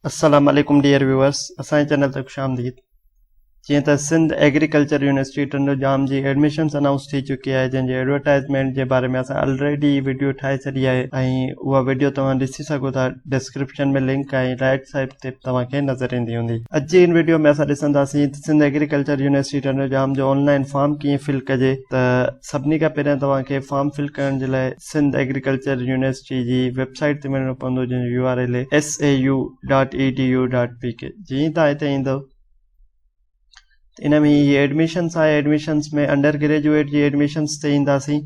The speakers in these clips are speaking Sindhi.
السلام عليڪم ڊيئر ويورس اسان جي چينل تي خوش آمديد جيئن ته سنڌ ايگريڪلچر يونيورسٽي ٽنڊو جام جي ايڊمشنس اناؤنس ٿي چڪي آهي جنهن جي ايڊورٽائزمينٽ جي باري ۾ اسان آلريڊي ويڊيو ٺاهي ڇڏي آهي ۽ اها ويڊيو توهان ڏسي سگهو ٿا ڊسڪرپشن ۾ لنڪ ۽ رائٽ سائيڊ تي توهان کي نظر ايندي هوندي اڄ جي ان ويڊيو ۾ اسان ڏسنداسين ته سنڌ ايگريڪلچر يونيورسٽي ٽنڊو جام جو آن لائن فارم ڪيئن فل ڪجي ته سڀني کان پهريان توهان کي فارم فل ڪرڻ جي لاء سنڌ ايگريڪلچر يونيورسٽي جي ويب سائيٽ تي وڃڻو پوندو جنهن جو U R L A S A U dot E D U dot P K جيئن تان هتي ايندو ان ۾ هي ايڊمشنس آهي ايڊمشنس ۾ انڊر گريجويٽ جي ايڊمشنس تي اينداسين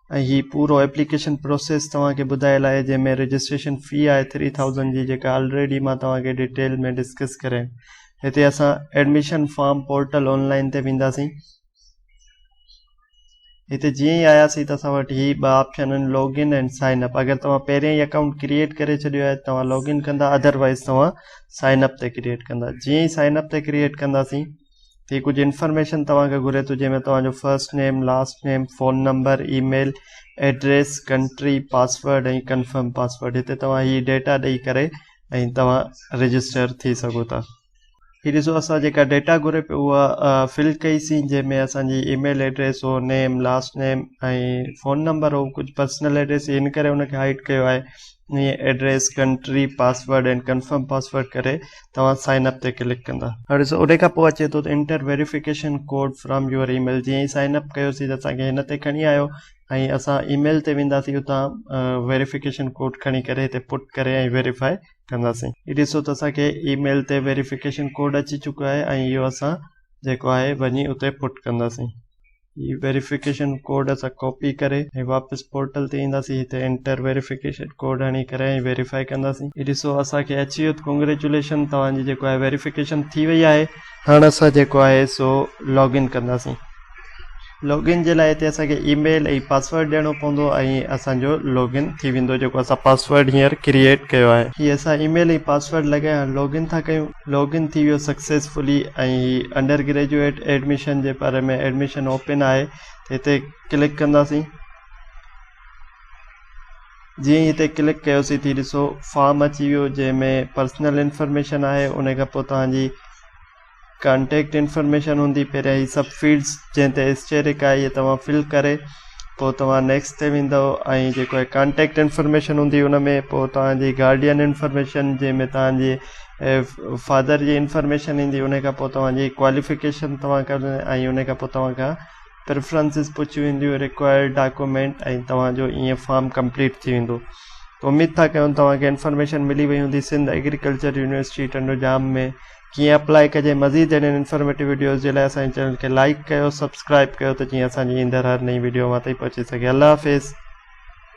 ۽ هي پورو اپليڪيشن پروسيس توهانکي ٻڌايل آهي جنهن ۾ رجسٽريشن في آهي ٿري ٿاؤزنڊ جي جيڪا آلريڊي مان توهانکي ڊيٽيل ۾ ڊسڪس ڪري هتي اسان ايڊمشن فارم پورٽل آنلائن تي وينداسين هتي جيئن ئي آياسين ته اسان وٽ هي ٻه آپشن آهن لاگ ان ۽ سائن اپ اگر توهان پهريان ئي اڪائونٽ ڪريئيٽ ڪري ڇڏيو آهي توهان لاگ ان ڪندا اڌر وائز توهان سائن اپ تي ڪريئيٽ ڪندا جيئن ئي سائن اپ تي ڪريئيٽ ڪنداسين ته هي ڪجهه انفارميشن توهان کي گهري ٿو جنهن ۾ توهان جو first name last name phone number email address country password ۽ confirm password هتي توهان هي ڊيٽا ڏئي ڪري ۽ توهان رجسٽر ٿي سگهو ٿا هي ڏسو اسان جيڪا ڊيٽا گهري پيو اها فل ڪئيسين جنهن ۾ اسان جي اي ميل ايڊريس هو name last name ۽ phone number هو ڪجهه پرسنل ايڊريس هن ڪري ان کي هائيڊ ڪيو آهي ائين address country password ۽ confirm password ڪري توهان سائن اپ تي ڪلڪ ڪندا هاڻي ڏسو ان کان پوء اچي ٿو ته enter verification code from your email جيئن سائن اپ ڪيوسين ته اسان کي هن تي کڻي آيو ۽ اسان اي ميل تي وينداسين اتان ويريفڪيشن ڪوڊ کڻي ڪري هتي پٽ ڪري ۽ ويريفائي ڪنداسين هي ڏسو ته اسان کي اي ميل تي ويريفڪيشن ڪوڊ اچي چڪو آهي ۽ اهو اسان جيڪو آهي وڃي اتي پٽ ڪنداسين هي ويريفڪيشن ڪوڊ اسان ڪاپي ڪري ۽ واپس پورٽل تي اينداسين هتي انٽر ويريفڪيشن ڪوڊ هڻي ڪري ۽ ويريفائي ڪنداسين هي ڏسو اسان کي اچي ويو ڪانگريچوليشن توهان جي جيڪو آهي ويريفڪيشن ٿي وئي آهي هاڻ اسان جيڪو آهي سو لاگ ان ڪنداسين لاگ ان جي لاء هتي اسان کي اي ميل ۽ پاسورڊ ڏيڻو پوندو ۽ اسان جو لاگ ان ٿي ويندو جيڪو اسان پاسورڊ هينئر ڪريئيٽ ڪيو آهي هي اسان اي ميل ۽ پاسورڊ لڳائي هاڻ لاگ ان ٿا ڪيون لاگ ان ٿي ويو سڪسيسفلي ۽ هي انڊر گريجويٽ ايڊميشن جي باري ۾ ايڊميشن اوپن آهي هتي ڪلڪ ڪنداسين جيئن ئي هتي ڪلڪ ڪيوسين ٿي ڏسو فارم اچي ويو جنهن ۾ پرسنل انفارميشن آهي ان کان پوء توهان جي ڪانٽيڪٽ انفارميشن هوندي پهريان هي سڀ فيلڊس جنهن تي اسٽيرڪ آهي اهي توهان فل ڪري پوء توهان نيڪسٽ تي ويندو ۽ جيڪو هي ڪانٽيڪٽ انفارميشن هوندي ان ۾ پوء توهان جي گارڊين انفارميشن جنهن ۾ توهان جي فادر جي انفارميشن ايندي ان کان پوء توهان جي ڪواليفڪيشن توهان ڪري ۽ ان کان پوء توهان کان پريفرنسز پڇيون وينديون، ريڪوائرڊ ڊاڪومينٽ ۽ توهان جو اي اين فارم ڪمپليٽ ٿي ويندو ته اميد ٿا ڪيون توهان کي انفارميشن ملي وئي هوندي سنڌ ايگريڪلچر يونيورسٽي ٽنڊو ڄام ۾ ڪيئن اپلائي ڪجي مزيد اهڙين انفارميٽو وڊيوز جي لاء اسان جي چينل کي لائيڪ ڪيو سبسڪرائيب ڪيو ته جيئن اسان جي ايندڙ هر نئين وڊيو اوهان تائين پهچي سگهي الله حافظ